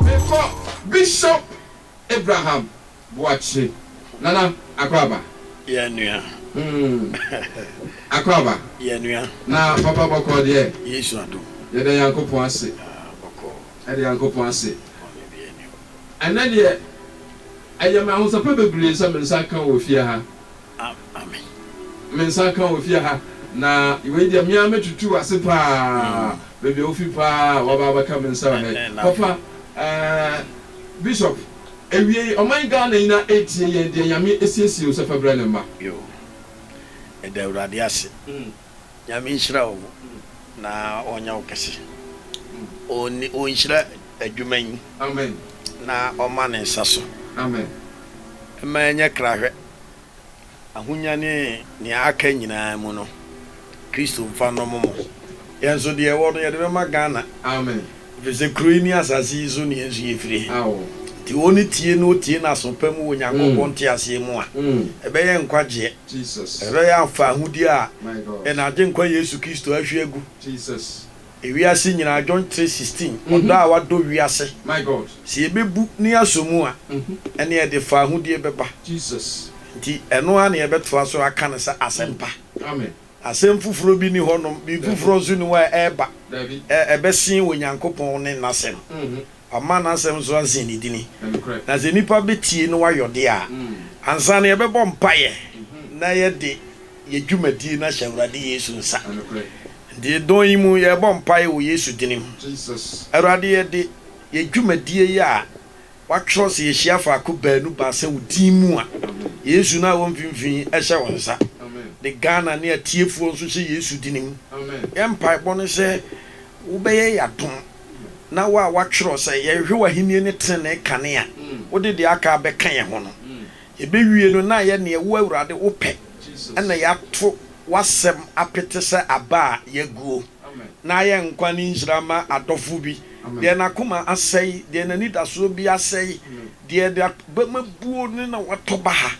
Mekɔ Bishop Abraham Boakye Nana Akwaba. Yɛn nua. Mm. Akwaba. Yɛn nua. Na papa bɔkɔɔ deɛ. Yesu adom. Yɛda Nyankopɔn ase. Ah, bɔkɔɔ. Yɛda Nyankopɔn ase. Bɔne bi ani hɔ. Ɛnnɛ deɛ, ɛyɛ me ahosɛpɛ bebree sɛ me nsa ka wɔ fie ha. ama me. Me nsa nka wɔ fie ha, na wei deɛ me ara mɛtutu w'ase pa ara, baabi a wofi pa ara a woaba abɛka me nsa wɔ ha yi. Papa, eh, Bishop, awiei ɔman Ghana nyina ara retie yɛn deɛ Nyame asiesie wo sɛ fa bra ne mma. Yoo, yɛda Awurade ase. Nyame nhyira wo na ɔnyɛ wo kɛse. Ɔnhyira adwuma yi na ɔma ne nsa so. Mma ɛnyɛ krahwɛ, ahonya ne nea aka nyinaa mu no, Kristo mfa nnɔmo mo. Yɛn nso deɛ ɛwɔ no yɛde bɛma Ghana. Efisɛ kuro yi ne asase yi so nea nsu yɛ firi. Enti wɔn no tie na wɔtie n'aso pa mu wɔ Onyankopɔn nteaseɛ mu a, ɛbɛyɛ nkwagyeɛ. Ɛbɛyɛ amfa ahodie a yɛn Agyenkwa Yesu Kristo ahwie agu. Ewiase nyinaa, John 3, 16, Ɔdɔ a wadɔ wiase. Sɛ yɛbɛbu na yɛasɔ mu a, ɛnneɛ ɛde fa ahodie bɛba. Enti ɛno ara na yɛbɛtoa so aka no sɛ asɛmpa. Asɛm foforɔ bi nni hɔnom, biribi foforɔ nso nni hɔ a ɛreba, ɛ, ɛbɛsen Onyankopɔn ne N'asɛm. Wama N'asɛm nso asen Ne dini. Na sɛ nnipa bɛtie na wɔayɔ deɛ a, ansa no yɛbɛbɔ mpaeɛ na yɛde yɛ dwumadie no ahyɛ Awurade Yesu nsa. Nti dɔn yi mu yɛrebɔ mpaeɛ wɔ Yesu dini mu, Awurade yɛde yɛ dwumadie yi a Wɔatwerɛ, Sɛ yɛhyia faako baanu baasa wo din mu a, Yesu no a ɔwɔ mfimfini hyɛ wo nsa. Ne Ghana ne atiefoɔ nso hyɛ Yesu dini mu. Yɛn mpaebɔ ne sɛ wobɛyɛ yɛn adom na wo a woatwerɛ sɛ yɛnhwɛ w'ahennie ne tenenee kane a wode deɛ aka abɛka yɛn ho no, Yɛbɛwie no na ayɛ neɛ Wo Awurade Wo pɛ na yɛato W'asɛm apete sɛ aba a yɛaguo na ayɛ nkwa ne nhyira ma adɔfo bi, deɛ n'akoma asɛe, deɛ n'anidasoɔ bi asɛe, deɛ n'abam abuo ne na watɔ baha,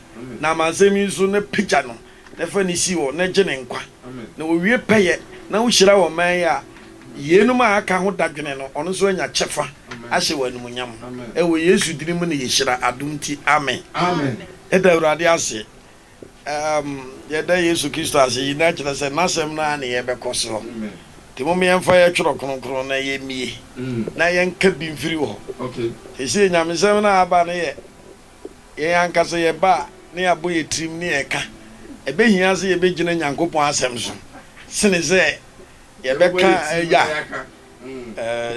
na amansɛm yi so na pagya no na fa no si hɔ na gye ne nkwa, na owie pɛyɛ na wohyira wɔ ɔman yi a yeinom a aka ho dadwene no, ɔno nso anya kyɛfa ahyɛ wɔ animuonyam. Ɛwɔ Yesu dini mu na yɛhyira adom nti, amen. Yɛda Awurade ase. Amm, yɛda Yesu Kristo ase. Eyi na kyerɛ sɛ N'asɛm no ara na yɛbɛkɔ soɔ. Nti momma yɛmfa yɛn Twerɛ Kronkron na yɛmmie na yɛnka bi mfiri hɔ. Seesei Nyamesɛm no a aba no yɛ Yɛn ankasa yɛba a na yɛabɔ yɛn tirim ne yɛn ka. Ɛbɛhia sɛ yɛbɛgyina Nyankopɔn Asɛm so sene sɛ yɛbɛka ya.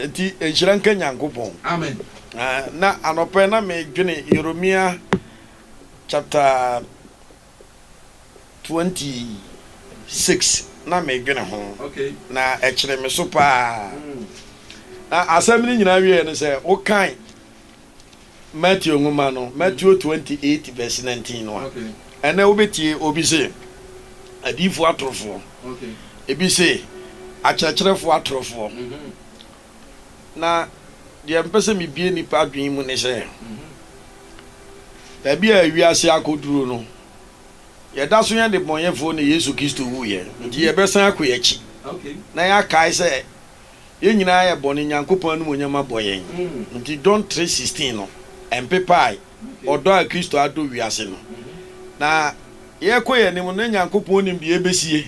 Enti nhyira nka Nyankopɔn. Na anɔpa yi na medwene Yeremia chapter 26 na medwene ho na ɛkyere me so paa. Na asɛm no nyinaa wieɛ ne sɛ wokan. Matthew nwoma no, Matthew twenty eight verse nineteen no a, ɛnnɛ wobɛtie obi se, Adiyifoɔ atorofoɔ. Ebi se, Akyerɛkyerɛfoɔ atorofoɔ. Na deɛ mpɛ sɛ mebue nnipa adwene mu ne sɛ, baabi a wiase akɔduru no, yɛda so yɛ nnebɔneyɛfoɔ na Yesu Kristo wuiɛ, nti yɛbɛsan akɔ yɛn akyi na yɛakae sɛ Yɛn nyinaa yɛ bɔne, Nyankopɔn animuonyam abɔ yɛn nti John tre sixteen no ɛmpepae ɔdɔ a Kristo adɔ wiase no. Na yɛkɔ yɛn anim no na Nyankopɔn nim deɛ ɛbɛsie.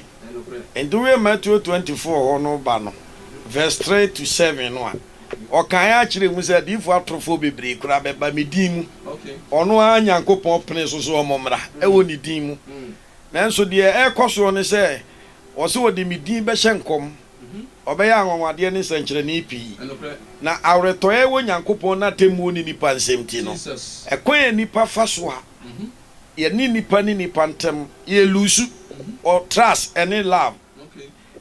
Nti woyɛ Matthew twenty four hɔ no ba no verse three to seven no a, ɔkaeɛ akyerɛ mu sɛ adiyifoɔ atorofoɔ bebree koraa bɛba me din mu, ɔno ara Nyankopɔn penee so sɛ wɔn mmra ɛwɔ ne din mu. Nanso deɛ ɛrekɔ soɔ ne sɛ wɔse wɔde me din bɛhyɛ nkɔm. Ɔbɛyɛ anwanwadeɛ ne nsɛnkyerɛnee pii. Na awerɛtɔeɛ a ɛwɔ Nyankopɔn n'atemmuo ne nnipa nsɛm nti no, ɛkwan a nnipa fa so a yɛne nnipa ne nnipa ntam yɛ luusu wɔ trust ne love.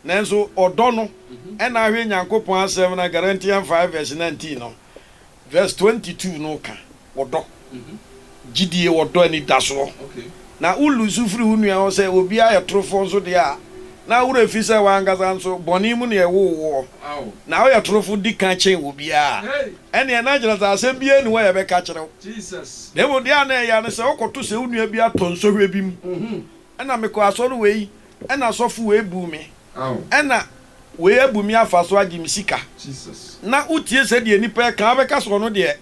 Nanso ɔdɔ no, ɛna ahwɛ Nyankopɔn asɛm no a Galatians five verse nineteen no. Verse twenty two no ka ɔdɔ, gyidie, ɔdɔ anidasoɔ. Na wo loose firi wo nua hɔ sɛ obiara yɛ torofoɔ nso deɛ a, na wo werɛ fi sɛ wo ankasa nso bɔne mu na yɛwoo woɔ, na woyɛ torofo di ka kyɛn obiara a, ɛnneɛ na kyerɛ sɛ asɛm biara nni hɔ a yɛbɛka akyerɛ wo. Na mmom deɛ a na ɛyɛ ara ne sɛ wokɔto sɛ wo nua bi atɔ nsɔhwɛ bi mu Ɛna mekɔɔ asɔre wei, ɛna asɔfo wei buu me, ɛna wei abu me afa so agye me sika. Na wotie sɛdeɛ nnipa reka a, wobɛka sɛ ɔno deɛ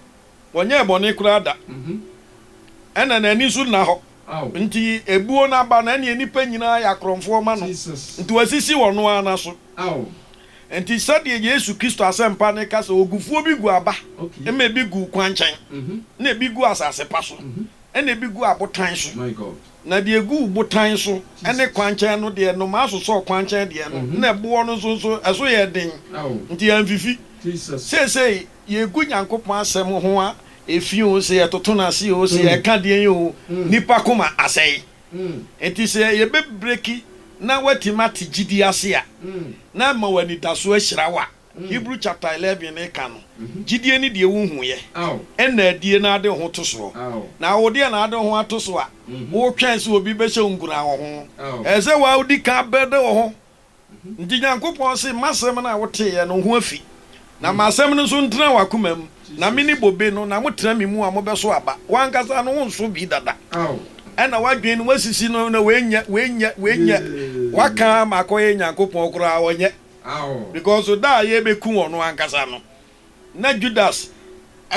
ɔnyɛɛ bɔne koraa da, ɛna n'ani nso nna hɔ, nti ebuo no aba no, ɛnneɛ nnipa nyinaa yɛ akorɔmfoɔ ma no, nti wɔasisi wɔ ɔno ara no so. Nti sɛdeɛ Yesu Kristo asɛmpa no ka sɛ, Ogufuo bi gu aba, ɛma ebi gu kwankyɛn, ɛna ebi gu asase pa so, ɛna ebi gu abotan so. Na deɛ ɛgu botan so ne kwankyɛn no deɛ, nnomaa sosɔɔ kwankyɛn deɛ no, na ɛboɔ no nso so, ɛso yɛɛ den, nti amfifi. Seesei yɛgu Nyankopɔn asɛm ho a, ɛfi oo, sɛ yɛtoto no ase oo, sɛ yɛka deɛn oo, nnipa koma asɛe. Enti sɛ yɛbɛbreki na woatumi ate gyidie ase a, na ama w'anidasoɔ ahyira wo a. Hebrew chapter eleven no ka no, Gyidie ne deɛ wohuuiɛ, ɛnna adie na ade wo ho to soɔ. Na wo deɛ na ade wo ho ato so a, wotwɛn sɛ obi bɛhyɛ wo nkuran wɔ ho. Ɛsɛ sɛ wo ara wodi kan abɛda wo ho. Nti Nyankopɔn se, Ma asɛm no a woteeɛ no ho afi, na ma asɛm no nso ntena w'akoma mu, na mene bobe no, na motena me mu a, mobɛso aba. W'ankasa no, wonso bi dada. Ɛnna w'adwene no, woasisi no, na woanyɛ, woanyɛ, woanyɛ. Woaka ama akɔyɛ Nyankopɔn koraa, ɔnyɛ. Because da a yɛrebɛku ɔno ankasa no, na Judas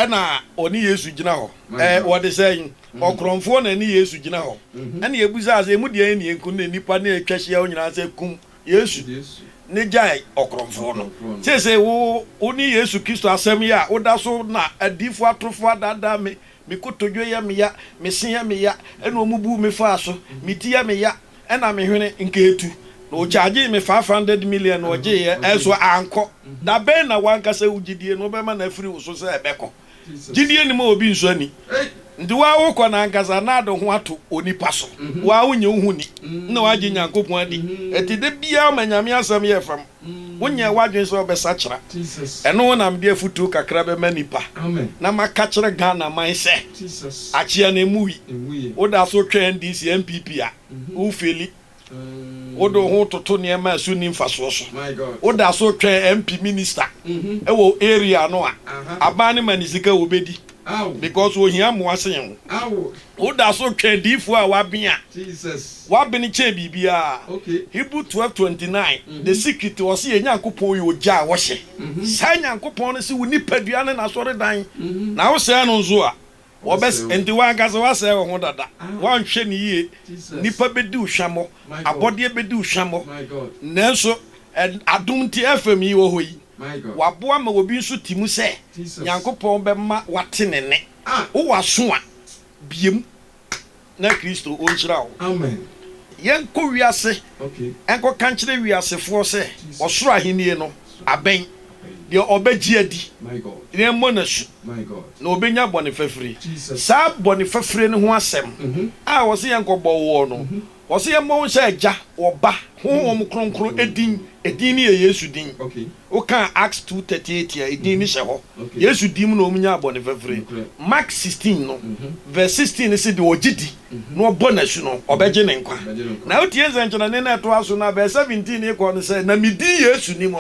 na ɔne Yesu gyina hɔ. Ɛɛ, wɔde sɛn? Ɔkorɔmfoɔ na ɛne Yesu gyina hɔ. Ɛnna yɛbisaa sɛ, Emu deɛn na yɛnku no na nnipa no retwa ahyia hɔ nyinaa sɛ, 'Kum Yesu, na gyae ɔkorɔmfoɔ no'? Seesei wo, wo ne Yesu Kristo asɛm yi a woda so na adiyifoɔ atorofoɔ adaadaa me, 'Me kotodwe yɛ me ya, me se yɛ me ya, ɛnna wɔbuu me faa so, me ti yɛ me ya, Ɛna me hwene nka etu na ɔkyagyee me five hundred million na ɔgyeeɛ ɛso ankɔ. Da bɛn na w'ankasa wo gyidie no wobɛma no afiri wo so sɛ ɛbɛkɔ? Gyidie nnim a obi nsɔ nni. Nti woa wokɔ no ankasa na ade ho ato onipa so. Woa wonnye wo ho nni na woagye Nyankopɔn adi. Ɛti da biara ma Nyame asɛm yɛ fam. Wonyɛɛ w'adwene sɛ wobɛsakyera? Ɛno wo na mede afutuo kakra bɛma nnipa na maka kyerɛ Ghana man sɛ akyea no ɛmu wi. Woda so retwɛn NDC NPP a, wo feli. Wode wo ho toto nneɛma a ɛso nni mfasoɔ so. Woda so retwɛn MP minister wɔ area no a, aban no ma no sika a ɔbɛdi. because ohia mmoa sen wo. Woda so retwɛn adiyifoɔ a wɔaben a wɔaben kyɛn biribiara. Hebrew twelve twenty nine, The secret, ɔse yɛn Nyankopɔn yɛ ogya a ɔhyɛ. Saa Nyankopɔn no se wo nipadua ne n'asɔredan, na wosɛe no nso a, ɔbɛs Enti w'ankasa woasɛe wo ho dada. Woanhwɛ no yie. Nnipa bɛdi wo hwammɔ. Abɔdeɛ bɛdi wo hwammɔ. Nanso, ɛ, adom nti, FM yi wɔ hɔ yi. Waboa ma obi nso te mu sɛ Nyankopɔn bɛma wate ne nne. Wo wɔ aso a, bue mu na Kristo ɔnhyira wo. Yɛnkɔ wiase nkɔka nkyerɛ wiasefoɔ sɛ ɔsoro ahennie no abɛn. Deɛ ɔbɛgye adi na ɛmmɔ no asu na ɔbɛnya bɔne fafire. Saa bɔne fafire no ho asɛm a ɔse yɛnkɔbɔ woɔ no, Wɔse yɛmmɔ wo sɛ Agya, Ɔba, Honhom Kronkron din, edin no yɛ Yesu din. Woka Acts two thirty eight a, edin no hyɛ hɔ. Yesu din mu na wɔn nyaa bɔne fafire. Mark sixteen no verse sixteen no se deɛ ɔgye di na ɔbɔ no asu no, ɔbɛgye ne nkwa. Na wotie nsɛnkyerɛnne no a ɛtoa so no a, verse seventeen no rekɔ no sɛ, Na me din Yesu no mu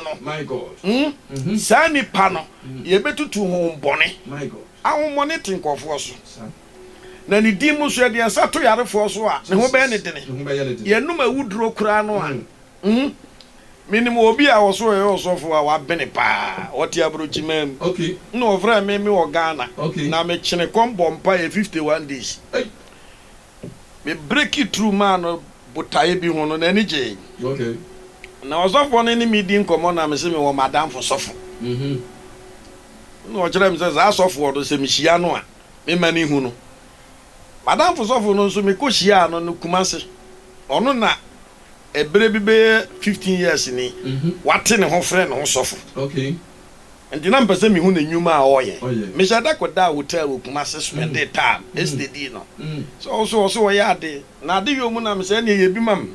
no, saa nipa no, yɛbɛtutu honhom bɔne, ahohommɔne te nkurɔfoɔ so. Na ne din mu nso yɛde yɛn nsa to yarefoɔ so a ne ho bɛyɛ ne dene. Yɛnom awuduro koraa no a, mm, menim obi a ɔso ɔyɛ ɔsɔfoɔ a wabene paa, ɔte aburokyimaa mu. Nna ɔfrɛɛ me mewɔ Ghana, na mekyene kɔm bɔɔ mpaeɛ 51 days. Me breaki through maa no botaeɛ bi ho no, n'ani gyee. Na ɔsɔfoɔ no ne me di nkɔmmɔ na mese mewɔ m'adamfo sɔfo. Nna ɔkyerɛɛ me sɛ saa sɔfoɔ no sɛ mehyia no a, mema no hu no. M'adamfo sɔfo no nso, mekɔhyiaa no no Kumasi. Ɔno na ɛberɛ bi bɛyɛ fifteen years ni, wate ne ho frɛ ne ho sɔfo. Enti na mepɛ sɛ mehu n'nnwuma a ɔreyɛ. Mehyɛɛ da kɔdaa hotel wɔ Kumasi spɛndee time, estedii no sɛ wo so, ɔso ɔyɛ ade. Na adeyɔ mu na mesɛ ɛneɛ yɛ bi ma me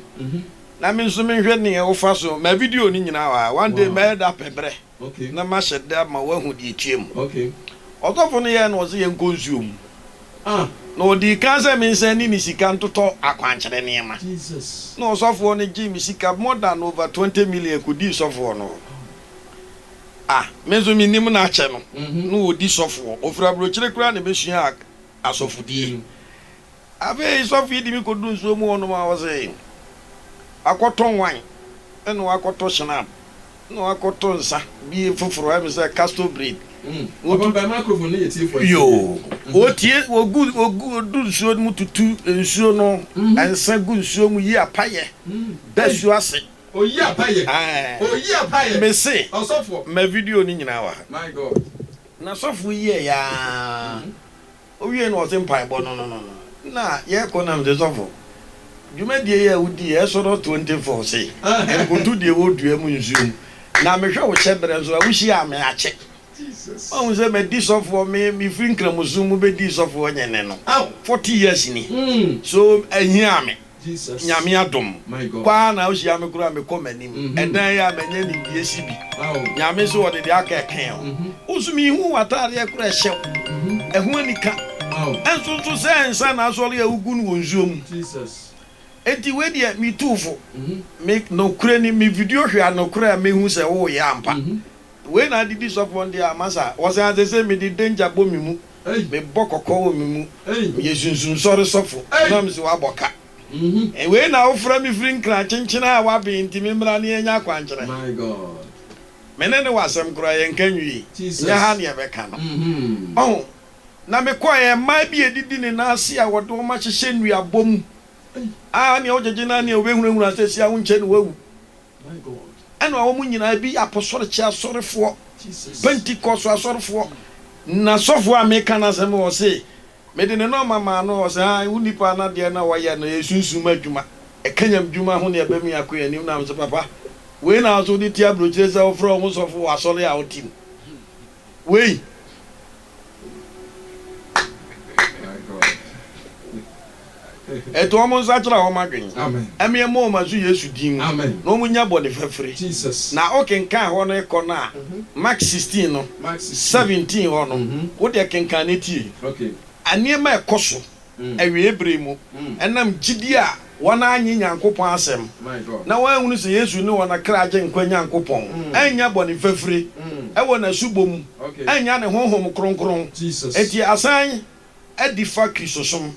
na me nso menhwɛ neɛ wofa so. Ma video no nyinaa wɔ ha. One day mɛyɛ da pɛ berɛ. na mahyɛ da ma woahu deɛ ɛtwaam. Ɔsɔfo no yɛɛ na ɔse yɛnkɔ nsuo mu, na ɔdii kan sɛ mensan nni ne sika ntotɔ akwankyerɛ nneɛma. Na ɔsɔfoɔ no gyee me sika more than over twenty million kɔdii sɔfoɔ no hɔ. Ah, me nso mennim no akyɛ no, na ɔdi sɔfoɔ. Ɔfiri aburokyire koraa na ɛbɛsuaa asɔfodie. Afei sɔfo yi de me kɔduu nsuo mu hɔnom a ɔse, Wakɔtɔ wan, ɛna wakɔtɔ shinab. na wakɔtɔ nsa bi foforo, ayɛ me sɛ castor bread. Mm. Ɔbɔ mpae microphone no yɛ tiefo atie. Yoo. Wɔtie, wɔgu, wɔgu, wɔdu nsuo no mu tutu nsuo no, nsa gu nsuo mu yi apayɛ, da su ase. Ɔyi apayɛ. Aɛɛ. Ɔyi apayɛ. Me se. Ɔsɔfoɔ. Ma video no nyinaa wɔ ha. My God. Na sɔfo yi yɛɛ yaa. Owiei no ɔse mpaebɔ no no no no na yɛkɔ nam se sɔfo dwumadie yi a wodii Exodus 24 se nkoto deɛ wɔ dua mu nsuo mu na mehwɛ wo hyɛberɛ nso a wohyiaa me akye mahu sɛ madi sɔfoɔ me mefiri nkramosom mu bɛdii sɔfoɔ nyene no 40 years ni so ahiaa me Nyame adom paa na wohyia me koraa mekɔ m'anim ɛdan yi a manya nimdeɛ si bi Nyame so ɔde deɛ aka ɛkee ho wo nso mehu wo ataadeɛ koraa ɛhyɛ wo ɛho anika ɛnso nso sɛ nsa na asɔre a wogu no wɔ nsuo mu enti wei deɛ metu wo fo me nokorɛ ni me video hwɛ a nokorɛ a mɛhu sɛ woyɛ ampa Wei na adidi sɔfo wɔn deɛ ama saa. Wɔsɛ adze sɛ mede danger bɔ me mu, mebɔ kɔkɔ wɔ me mu, meyɛ sunsum sɔre sɔfo, na mese wɔabɔ ka. Wei na wofrɛ me firi nkran kyenkyen a wɔaben nti me mmra na yɛnyɛ akwankyerɛ. Me ne ne wɔ asɛm koraa yɛnka nwie, nyɛ ha na yɛbɛka no. Ɔho, na mekɔeɛ, mmaa bi a ɛdidi ne nan ase a wɔde wɔn ahyehyɛ nnuabɔ mu a nea wogyegye no ara nea wobɛhunahuna sɛ sia wonkyɛ na woawu. Ɛna wɔn nyinaa bi apɔsɔrekyɛ asɔrefoɔ, pentikɔso asɔrefoɔ. Na sɔfoɔ a meka no asɛm wɔ se, mede ne nɔma maa no, ɔse, Ae, wo nipa no adeɛ na wɔyɛ no yɛ sunsum adwuma, ɛkanyam dwuma ho ne ɛbɛ mu yako yɛ anim, na mese, Papa, wei na wo nso wode ti abrokyire sɛ wofrɛ wo ho sɔfo wɔ asɔre a wote mu wei? Ɛto wɔn nsakyera wɔn adwen ɛme ɛmɔ wɔn asu Yesu din mu na wɔn nya bɔne fafire. Na wo kenkan hɔ no kɔ no a Mark sixteen no seventeen hɔ no wo deɛ kenkan no tie nneɛma ɛkɔ so. awiei bere mu ɛnam gyidi a wɔannye Nyankopɔn asɛm na wɔanhunu sɛ Yesu ne wɔn kra agyenkwa Nyankopɔn, annya bɔne fafiri wɔ n'asubɔ mu, annya ne Honhom Kronkron nti asan adi fa Kristosom.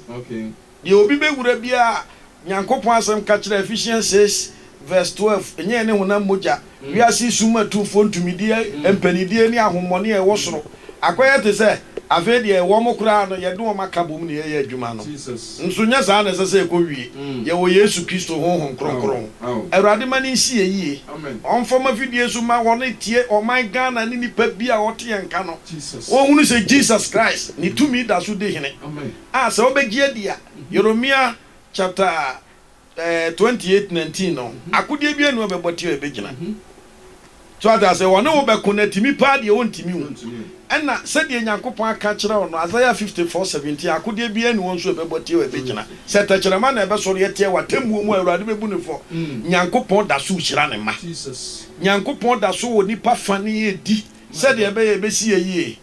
Deɛ obi bɛwura biara a Nyankopɔn asɛm ka kyerɛ Ephesians six verse twelve nyɛɛ ne honam mogya. Wiase sum atufoɔ ntumideɛ, mpanideɛ ne ahommɔne a ɛwɔ soro akɔyɛ te sɛ afei deɛ wɔn koraa no yɛde wɔn aka bom na yɛyɛ adwuma no. Nso nyɛ saa na ɛsɛ sɛ ɛkɔ wie. Yɛwɔ Yesu Kristo Honhom Kronkron. Awurade ma no nsi yɛn yie. Ɔmfa ɔma fidie so ma wɔne tie ɔman Ghana ne nipa bi a ɔte yɛn nka no. Wɔnhunu sɛ Jesus Christ ne tumi da so di hene. A sɛ wobɛgye adi a Yeremia chapter. twenty eight nineteen no akodeɛ biara nni hɔ a ɛbɛbɔ ti a ɛbɛgyina so ate aseɛ wɔne wo bɛko na atumi paa deɛ ɔntumi wo ɛna sɛdeɛ Nyankopɔn aka akyerɛ wo no Isaiah fifty four seventeen akodeɛ biara nni hɔ nso a ɛbɛbɔ ti a ɛbɛgyina sɛ tɛkyerɛma na ɛbɛsɔre atia wɔ atemmuo mu a Awurade bɛbu no fɔ Nyankopɔn da so rehyira ne mma Nyankopɔn da so wɔ nnipa fa ne yɛ di sɛdeɛ ɛbɛyɛ ɛbɛsi yɛ yie.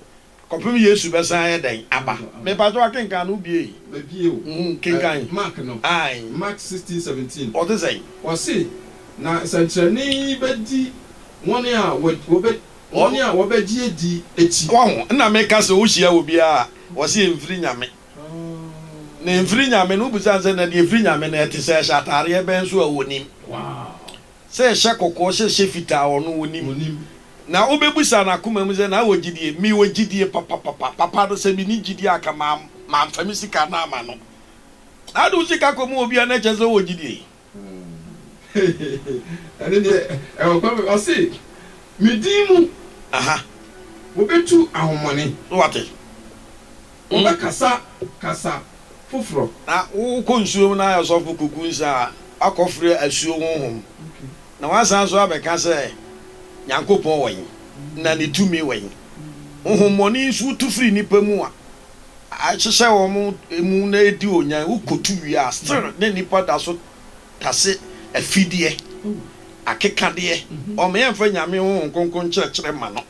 Kɔpem Yesu bɛsan ayɛ dɛn aba. Mepa kyɛw akenkan no wobie yi. Mabie o. Uhmm kenkan. Mark no. Ae. Mark sixteen seventeen. Ɔte sɛn? Ɔse, Na nsɛnkyerɛnne yi bɛdi wɔn a wɔbɛ wɔn a wɔbɛgye adi akyi. Wahu? Nna meka sɛ wohyia obi a ɔse ɛmfiri Nyame. Na ɛmfiri Nyame no, wobisa no sɛ na deɛ ɛfiri Nyame no ɛte sɛ ɛhyɛ ataareɛ bɛn so a ɔnim. sɛ hyɛ kɔkɔɔ sɛ hyɛ fitaa ɔno onim na wobɛbusa nakoma mu sɛ na wɔ gyidie me wɔ gyidie papapapa papa no sɛ me ni gyidie anka ma manfa me sika no ama no na ade wo sika kɔ mu wɔ bia na kyɛ sɛ wɔ gyidie ɛne deɛ ɛwɔ kɔ me ɔse me din mu aha wobɛtu ahomɔne so wate. Wɔbɛkasa kasa foforɔ. Na wokɔ nsuo mu na ayɛ ɔsɔfo kuku nsa a, woakɔfrɛ asuo honhom, na woasan nso abɛka sɛ Nyankopɔn wɔ he, na ne tumi wɔ he? Honhommɔne nso tu firi nnipa mu a, ahyehyɛ wɔn mu na edi onyan, wokɔtu wie a, still na nnipa da so tase afideɛ, akekadeɛ, wɔn yɛmfa Nyame Honhom Kronkron nkyerɛkyerɛ mma no.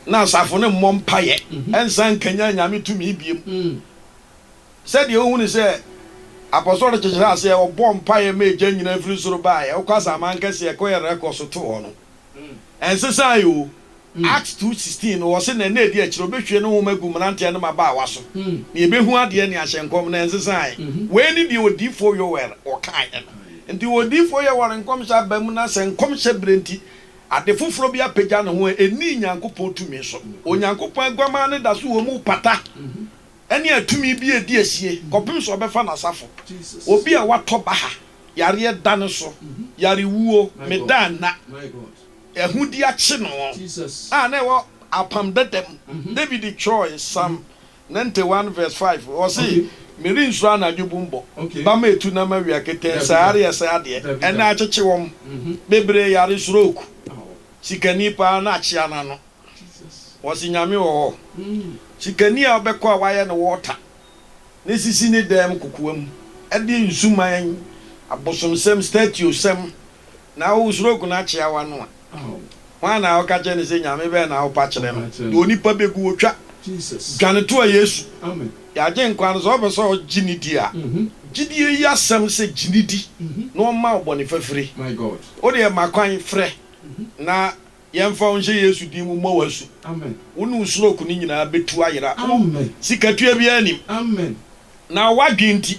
na asafo no mmɔ mpaeɛ nsan nkanyan Nyame tumi biom. Sɛdeɛ wohunu sɛ Apɔsɔre no kyekyerɛ aseɛ, wɔbɔɔ mpaeɛ ma egya nyinaa firi soro baeɛ, wokɔ asaman kɛseɛ ɛkɔ Yeriko so too hɔ no, ɛnsesaeɛ o. Acts two sixteen no, wɔse na nna ɛdi akyire wɔbɛhwie ne honhom agu mmeranteɛ ne mmabaawa so, na yɛbɛhu adeɛ ne ahyɛ nkɔm no, ɛnsesaeɛ. Wei ne deɛ odiyifoɔ Yoel ɔkaeɛ no. Nti odiyifoɔ Yoel nkɔmhyɛ aba mu, na sɛ nkɔmhyɛ berɛ nti, Ade foforɔ bi apagya ne ho a ɛnni Nyankopɔn tumi so. Onyankopɔn aguamaa no da so wɔ mu pata ne atumi bi a ɛdi asie kɔpem sɛ ɔbɛfa n'asafo. Obi a watɔ baha, yareɛ da no so, yarewuo, meda nna, ahudeɛ akye no a na ɛwɔ Apam Dada mu. David twerɛɛe, Psalm Ninety one vs five ɔse merensu anadwo bum bɔ ba ma etu na mawia ketee sɛ are ɛsɛ adeɛ ɛnɛ akyekye wɔm bebree yare sroke sikani paa na akyea nano ɔse nyame wɔ hɔ sikani a ɔbɛkɔ a wayɛ no water ne sisi ne dɛm kokoam ɛdeɛ nsu man abosomsɛm statuo sɛm Na wo suro oku no akyea w'ano a, hwan na woka kyerɛ no sɛ Nyame bɛn na wopa kyerɛ no? Na onipa bɛgu wo twa. Dwane toa Yesu, yɛ Agyenkwa no. Sɛ wopɛ sɛ ɔgye ne di a, gyidie yi asɛm sɛ gye ne di na ɔmma wo bɔne fafire. Wodeɛ ma kwan, frɛ na Yɛmfa wo nhyɛ Yesu din mu mmɔ wo asu. Wo ne wo stroke no nyinaa bɛtu ayera. Wo sikatua biara nnim. Na w'adwene nti,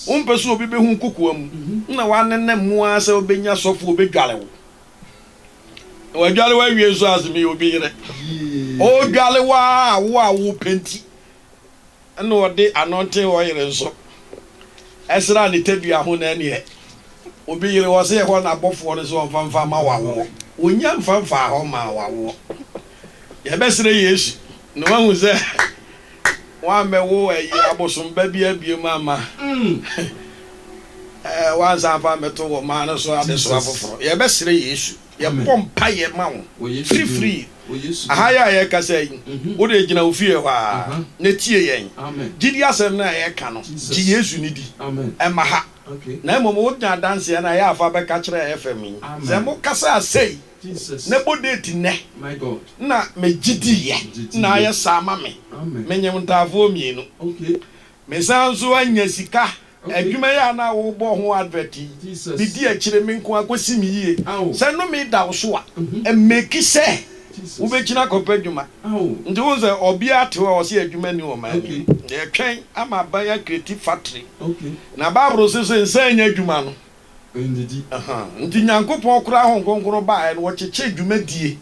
wompɛ sɛ obi bɛhu wo kokoa mu. Nna woanenam mu ara sɛ wobɛnya sɔfo a ɔbɛdware wo. Na wadware wo awie nso a, se meyɛ obi yere. Ɔredware wo ara a wo a worepɛ nti. Nna ɔde anɔntsen ɔyer nso sera ne tadua ho na nneɛ obi yere hɔ sɛ ɛhɔ na abɔfoɔ no sɛ ɔmfa mfa ma wawoɔ. Ɔnya mfa mfaa hɔ maa wawoɔ. Yɛbɛsrɛ Yesu na wahu sɛ wammɛwo ɛyɛ abosom ba bia biom amma wansan amfa ammɛto wɔ maa no so adesoa foforɔ. Yɛbɛsrɛ Yesu. Yɛbɔ mpaeɛ ma wo firifiri aha yɛ a yɛrekasa yi. Wo deɛ gyina wo fie hɔ ara na tie yɛn. Gyidie asɛm no a yɛreka no, gye Yesu no di. Ɛmma ha. Na mmom wonya adanseɛ no a, yɛ a fa bɛka kyerɛ FM yi. Sɛ mokasaa sei na bɔ date nnɛ na megye diiɛ na ayɛ saa ma me. Menyem ntaafoɔ mmienu. Mesan nso anya sika. Adwuma yi a na worebɔ ho advert yi, midi akyire me nko ara kɔsi me yie. Sɛ nnome da wo so a, mmeki sɛ wobɛgyina akɔpɛ adwuma. Nti wohu sɛ ɔbea te hɔ a ɔse adwuma nni wɔ ɔman no mu. Yɛtwɛn ama aban akreti factory. Na Bible se sɛ nsa annya adwuma no, nti Nyankopɔn koraa Honhom Kronkron baeɛ no ɔkyekyee dwumadie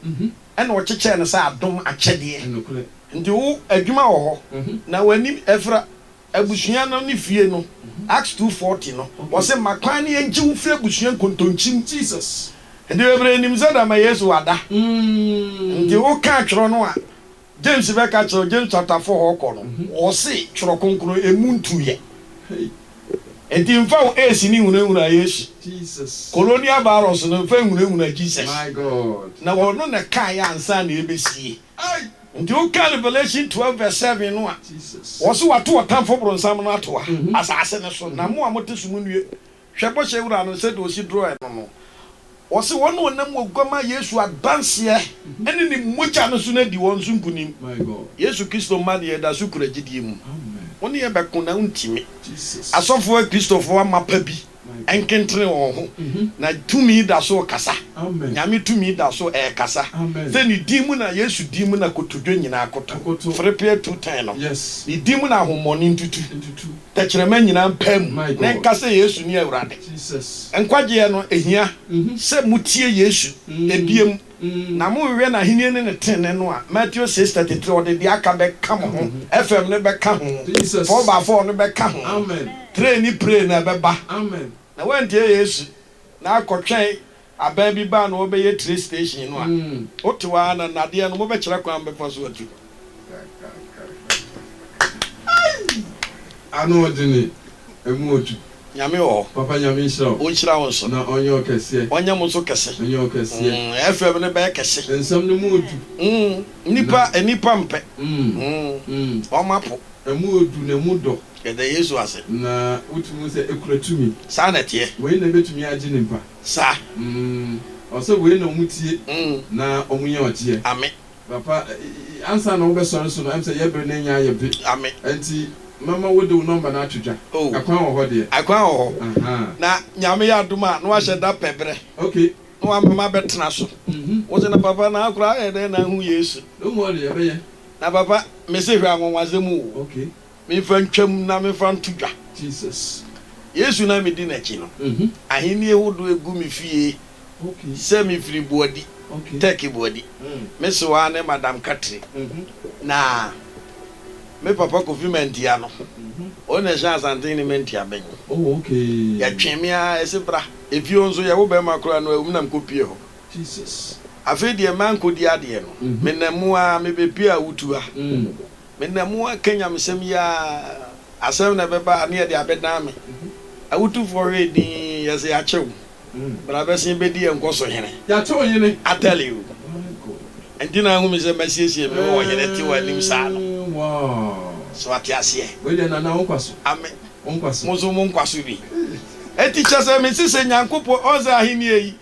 ɛna ɔkyekyɛɛ no sɛ adom akyɛdeɛ. Nti wo adwuma wɔ hɔ na w'ani afira. Abusua no ne fie no, Acts two forty no, ɔse, Ma kwan na yɛngye wo mfiri abusua nkontonkyi mu. Nti bebree nim sɛ dɛma Yesu wada. Nti woka atwerɛ no a James bɛka kyerɛ wo, James chapter four hɔ kɔ no, ɔse twerɛ kronkron ɛmu ntuiɛ. Nti mfa wo ace no nhunahuna Yesu. Colonial virus no mfa nhunahuna Jesus. Na ɔno na ɛkaeɛ ansa na ɛbɛsie. Nti wokan Revelation twelve verse seven no a, wɔse wɔato ɔtamfo bronsam no atoa asase no so, na mo a mote so munnue. Hwɛ bɔhyɛ Wura no sɛdeɛ ɔsi duro ɛno no. Ɔse wɔn a wɔnam Oguammaa Yesu adanseɛ ne Ne mogya no so no adi wɔn so nkunim. Yesu Kristo mma deɛ yɛda so kura gyidie mu. Wo ne yɛbɛko na wontumi. Asɔfoɔ Kristofoɔ mma pa bi. nkentene wɔn ho, na tumi da so rekasa, Nyame tumi da so rekasa, sɛ ne din mu na, Yesu din mu na kotodwe nyinaa koto, ferepee tu tɛn no, ne din mu na ahommɔne ntutu, tɛkyerɛma nyinaa mpae mu na ɛnka sɛ Yesu ne Awurade. Nkwagyeɛ no hia sɛ motie Yesu biom. Na monhwɛ n'ahennie ne ne tenenee no a, Matthew six thirty three, ɔde deɛ aka bɛka mo ho, fm no bɛka ho, four by four no bɛka ho, train ne prey no ɛbɛba. Na woantie Yesu, na akɔtwɛn aban bi baa na ɔrebɛyɛ train station no a, wotew ara na nnadeɛ no mobɛkyerɛ kwan bepɔ so atu hɔ. Ano ɔdene ɛmu ɔtu. Nyame wɔ hɔ. Papa Nyame nhyira wo. Ɔnhyira wo nso. Na ɔnyɛ wo kɛseɛ. Ɔnyɛ mo nso kɛse. Ɔnyɛ wo kɛseɛ. Mm, FM no bɛyɛ kɛse. Nsɛm no mu ɔdu. Mm, nnipa, nnipa mpɛ. Mm, wɔn apo. Ɛmu ɔdu na ɛmu dɔ. Yɛda Yesu ase. Na wotumi hu sɛ ɛkura tumi. Saa na ɛteɛ. Wei na ɛbɛtumi agye ne mpa. Saa. Mm, ɔsɛ wei na wɔn tie. Mm. Na wɔn yɛ ɔgyeɛ. Ame. Papa, ansa na wobɛsɔre so no, ɛm sɛ yɛ bere no anya ayɛ be. Ame. Ɛnti, mɛma wode wo nɔmba no ato dwa. Oh. Ɛkwan wɔ hɔ deɛ? Ɛkwan wɔ hɔ. Ahaa. Na Nyame yɛ adom a, na wahyɛ da pɛ berɛ. Ok. Na wama mabɛtena so. Mhm. Wo se, na papa, na akoraa ayɛ dɛn na ahu Yesu? Don't worry, ɛbɛyɛ. Na papa, mese hwɛ anwanwadze mu o. Ok. Memfa ntwam na memfa nto dwa. Yesu na medi n'akyi no, ahenni hodoɔ agu me fie sɛ mefiri Boadi, Turkey Boadi. Me sew ara ne Madam Katri na me papa Kofi Mantia no, ɔno na ɛhyɛ Asantehene ne Mantia bɛn. Yɛtwee me ara, ɛse bra. Efie hɔ nso, yɛwo barima koraa no, awom na mekɔpuee hɔ. Afei deɛ mankɔdi adeɛ no, menam mu ara mebɛpuee awutu ha. Me na mu aka nyamesɛm yi aa. Asɛm na ɛbɛba a ne yɛde abɛdan me Awotufoɔ hwɛ din yɛse yɛakyɛ wo Bra bɛsen bɛdi yɛn nkɔso hene Yɛakyɛ ɔhene I tell you Ɛnti na ahu me sɛ masiesie me ho Ɔhene te w'anim saa no So wate aseɛ Wei deɛ Nana wo nkwa so Ame Wo nkwa so Mo nso mo nkwa so bi Ɛnti kyɛ sɛ mese sɛ Nyankopɔn Ɔhu sɛ ahennie yi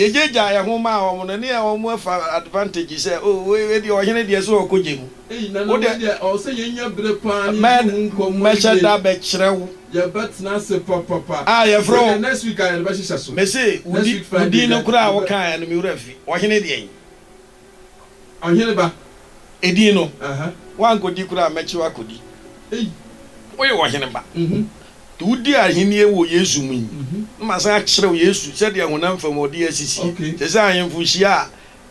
Yɛgyagyaa yɛn ho maa wɔn no Ne yɛ wɔn afa advantage sɛ oh wei deɛ Ɔhene deɛ ɛsɛ ɔkɔgya mu. Wo de, mɛ, mɛhyɛ da bɛkyerɛ wo a yɛfrɛ wo. Mese, wo di, wo din no koraa a wokaeɛ no, me wura fi. Ɔhene deɛn? Edin no, woankɔdi koraa a, mɛkye wo akɔdi. Woyɛ ɔhene ba. Nti wodi ahennie wɔ Yesu mu yi, na masan akyerɛ wo Yesu sɛdeɛ honam fam ɔde asisie. Te sɛ ahemfo hyia a,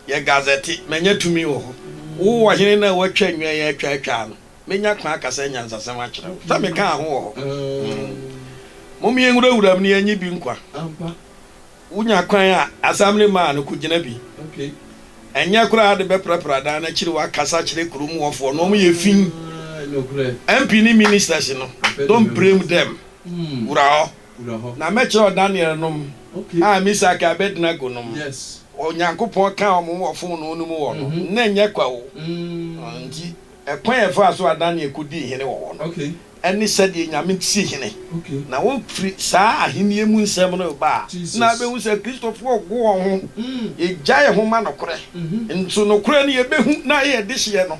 Yɛ gazɛte, Manya tumi wɔ hɔ. Wo Ɔhene no a wɔatwa nnwan yi atwaatwaa no, mɛnya kwan akasa anyansasɛm akyerɛ wo. Sɛ mekaa ho wɔ hɔ. Mom yɛnwurawura mu na yɛnnye bi nkwa. Wonya kwan a, asɛm no maa no, kogyina bi. Ɛnyɛ koraa ade bɛprapra dan no akyiri woakasa akyerɛ kurom wɔfoɔ no, wɔn yɛ fi. MP ne ministers no, don't blame them, wura hɔ. wura hɔ. Na mɛkyerɛw Danielnom a Misak a Abednego nom Onyankopɔn kaa wɔn ho wɔ fononoo no mu wɔ no nna nyɛ kwa o. Enti ɛkwan a ɛfaa so a Daniel kodii hene wɔ hɔ no, ɛne sɛdeɛ Nyame si hene, na wofiri saa ahennie mu nsɛm no reba a, na wobɛhu sɛ Kristofoɔ rego wɔn ho, yɛgyae ho ma nokorɛ, nso nokorɛ no yɛbɛhu na ayɛ yɛdehyeɛ no.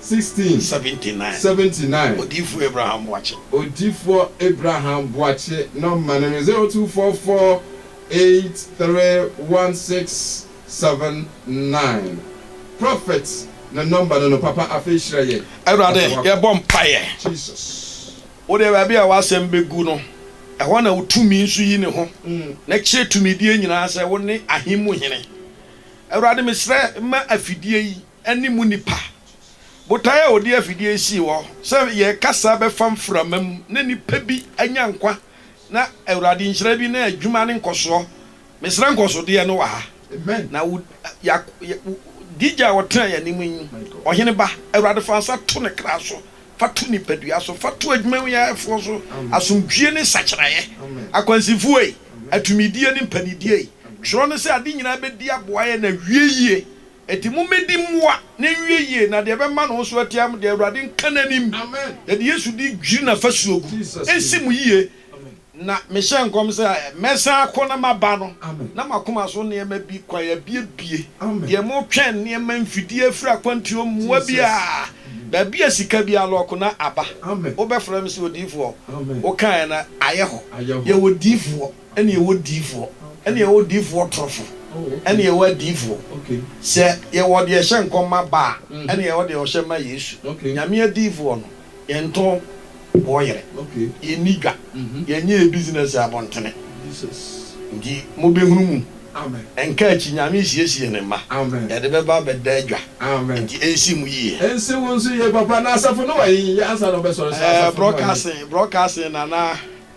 16. 79, Seventy nine. Odiyifoɔ Abraham Boakye. Odiyifoɔ Abraham Boakye nɔma no ne 0244 831679. Prophet ne nɔmba no no papa afei hyira yɛn. Awurade Ɔde w'akɔ. yɛbɔ mpaeɛ. Jesus. Wodeɛ baabi a w'asɛm bɛgu no ɛhɔ na wo tumi nso yi ne ho na kyerɛ tumidie nyinaa sɛ wone ahe mu hene. Awurade mesrɛ ma afidie yi. ne mu nnipa. Botae a wɔde afidie yi sii hɔ sɛ yɛn kasa bɛfa mframa mu na nnipa bi anya nkwa na Awurade nhyira bi na adwuma ne nkɔsoɔ. Mesrɛ nkɔsodeɛ no wɔ ha. Na wo Yak DJ a ɔtena yɛn anim yi, Ɔhene ba, Awurade fa nsa to ne kra so, fa to nipadua so, fa to adwumayɛfoɔ so, asomdwie ne sakyeraeɛ, akwansifoɔ yi, atumidie ne mpaninidie yi. Twerɛ no sɛ ade nyinaa bɛdi aboa yɛn na awie yie. Enti mommɛdi mmoa na ɛnwie yie, na deɛ ɛbɛma ne ho so atia mo deɛ, Awurade nka n'anim, yɛde Yesu din dwiri n'afasuo gu, ɛnsi mo yie. Na mehyɛ nkɔm sɛ mɛsan akɔ na maba no, na m'akoma so nneɛma bi kwan abiebie, deɛ motwɛn nneɛma, mfidie afiri akwantuo, mmoa biara, baabi a sika bi alɔɔko na aba. Wobɛfrɛ me sɛ odiyifoɔ, wokaeɛ no ayɛ hɔ. Yɛwɔ diyifoɔ. Ɛne yɛwɔ diifoɔ, ɛne yɛwɔ diifoɔ torofo, ɛne yɛwɔ adiifoɔ. Sɛ yɛwɔ deɛ ɛhyɛ nkɔm ma ba a, ɛne yɛwɔ deɛ ɔhyɛ ma Yesu. Nyame adiifoɔ no, yɛntɔ boɔ yere, yɛnni dwa, yɛnyɛ yɛ business abɔntene. Nti mobɛhunu mu, ɛnka akyi, Nyame resiesie Ne mma, yɛde bɛba abɛda adwa, nti ɛnsi mo yie. Ɛnsi wo nso yie papa, na asafo no wɔ he? Yɛ ansa na ɔbɛsɔre sɛ asafo no wɔ he? Broadcasting, broadcasting Nana